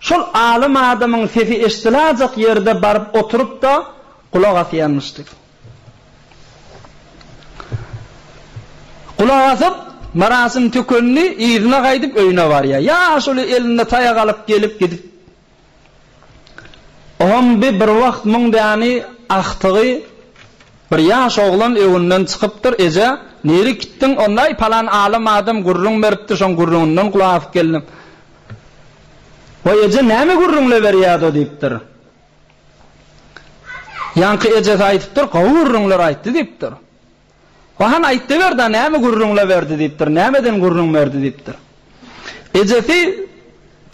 Şol alym adamyň sesi eşdilajak ýerde baryp oturyp-da gulak asýarmyşdy. Gulak asyp, Myrasym tükendi, yzyna gaýdyp öýüne barýar. Ýaşuly elinde taýak alyp gelip gidip. Oňam bi bir wagt muň däni ahtygy bir ýaş oglan öwünden çykypdyr, Eje, nirä gitdiň? Onda-aý palan alym adam gürrüň beripdi, şoň gürrüňinden gulak asyp geldim. Waý, eje, näme gürrüňleberýädo? diýipdir. Ýaňky ejesi aýdypdyr, Gowy gürrüňler aýtdy diýipdir. Waý, hany aýtdyber-da, näme gürrüňleberdi diýipdir, nämeden gürrüň berdi diýipdir. Ejesi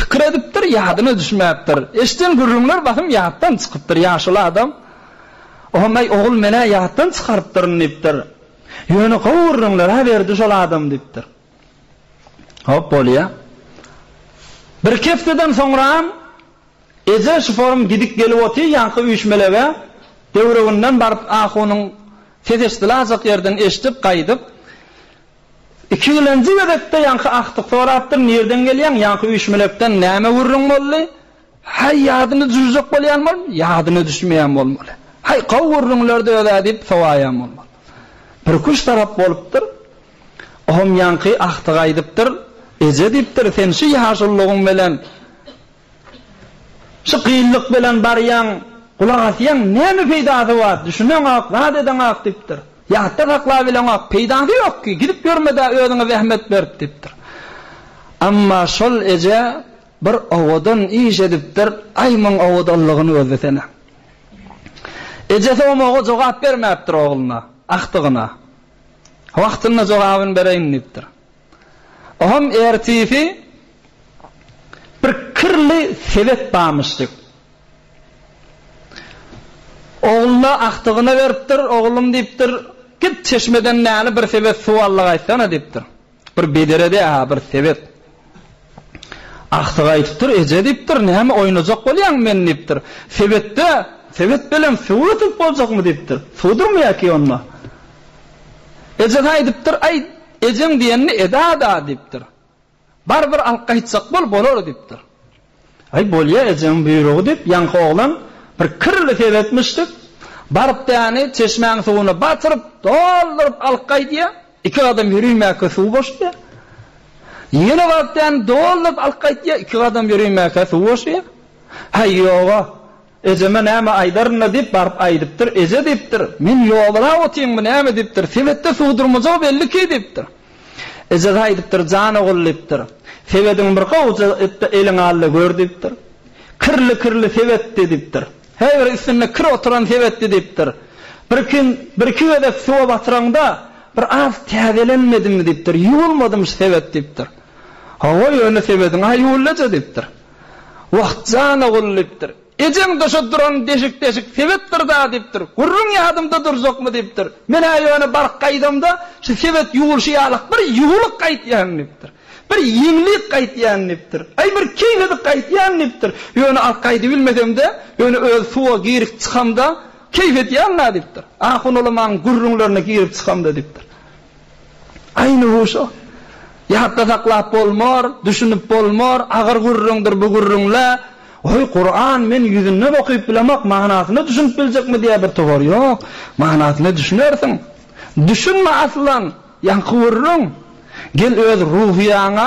pikir edipdir, ýadyna düşmäpdir. Eşiden gürrüňler basym ýatdan çykypdyr. Ýaşuly adam, Ohomaý, ogul, men-ä ýatdan çykarypdyryn diýipdir. Ýöne gowy gürrüňler-ä berdi şol adam diýipdir. Hop bolýa. Birki hepdeden soňram eje şiforum gidip gelip oty ýaňky üýşmelege döwreginden baryp ahunyň ses eşdilajak ýerden eşdip gaýdyp ikigilenji gezekde ýaňky agtyk sorapdyr nirden gelýäň ýaňky üýşmelekden näme gürrüň boldy häý ýadyna düjüjek bolýan bolm ýadyna düşmeýän bolmaly häý gowy gürrüňlerdi özä diýip sowaýan bolmaly birki üç tarap bolupdyr. Ohm ýaňky Ahtyk aýdypdyr, Eje diýipdir, sen şu ýaşulygyň bilen, şu gyllyk bilen barýaň, gulak asýaň, näme peýdasy bar, düşüneňok, zat edeňok diýipdir. Ýatda saklabileňok, peýdasy ýok ki, gidip ýörme-dä, özüňe zähmet berip diýipdir. Emma şol eje bir owadan iş edipdir, aý muň owadanlygyny gözlesene. Ejesi omaga jogap bermäpdir ogluna, Ahtygyna. Wagtynda jogabyny bereýin diýipdir. Oňam ertisi bir kirli sebet barmyşdyk. Ogluna agtygyna beripdir, oglum diýipdir, git çeşmeden näli bir sebet suw allygaýtsana diýipdir. Bir bederedä-hä bir sebet. Agtyk aýdypdyr, Eje, diýipdir, näme oýnajak bolýaň meni, diýipdir. Sebetde, sebet belem suw götürip boljakmy, diýipdir. Suwdurmy ýaky onda? Ejesi aýdypdyr, Aý, ejeň diýenini eda-da, diýipdir. Bar bir alyp gaýtjak bol, bolar, diýipdir. Aý, bolýa, ejeň buýrugy, diýip, ýaňky oglan bir kirli sebetmişdik, baryp däni çeşmäň suwuna batyryp, dolduryp alyp gaýdýar. Iki gadam ýörimäkä suw boşaýar. Ýene baryp däni dolduryp alyp gaýdýar, iki gadam ýörimäkä suw boşaýar. Häý, ýog-a. Ejeme näme aýdaryn-da diýip, baryp aýdypdyr. Eje diýipdir, Men ýogalap otyryn, bu näme diýipdir. Sebetde suw durmajagy belliki diýipdir. Ejesi aýdypdyr, Jan ogul diýipdir, sebediň bir gowja etde eliňe al-da gör diýipdir. Kirli-kirli sebetdi diýipdir. Häý bir üstünde kir oturan sebetdi diýipdir. Birki birki gezek suwa batyraňda bir az täzelenmedimi diýipdir. Ýuwulmadym şu sebet diýipdir. Hawa ýöne sebediň-ä ýuwuldy eje diýipdir. Wah, jana gul diýipdir. Ejeň döşe duran deşik-deşik sebetdir-dä diýipdir. Gürrüň ýadymda durjakmy diýipdir. Men-ä ýöne baryp gaýdamda, şu sebet ýuwulşy ýalak bir ýuwulyk gaýtýan diýipdir. Bir ýeňlik gaýtýan diýipdir. Aý, bir keýnedik gaýtýan diýipdir. Ýöne alyp gaýdybilmesem-de, ýöne özi suwa girip çykamda, keýp edýän-dä diýipdir. Ahun ulamaň gürrüňlerine girip çykamda diýipdir. Aýny huşa. Ýatda saklap bolmar, düşünip bolmar, agyr gürrüňdir bu gürrüňle. Oý, Kuran men ýüzünden okyp bilemok, manysyna düşünip biljekmi diýýär bir towar. Ýok, manysyna düşünersiň. Düşünme aslan, ýaňky gürrüň. Gel öz ruhyýaňa,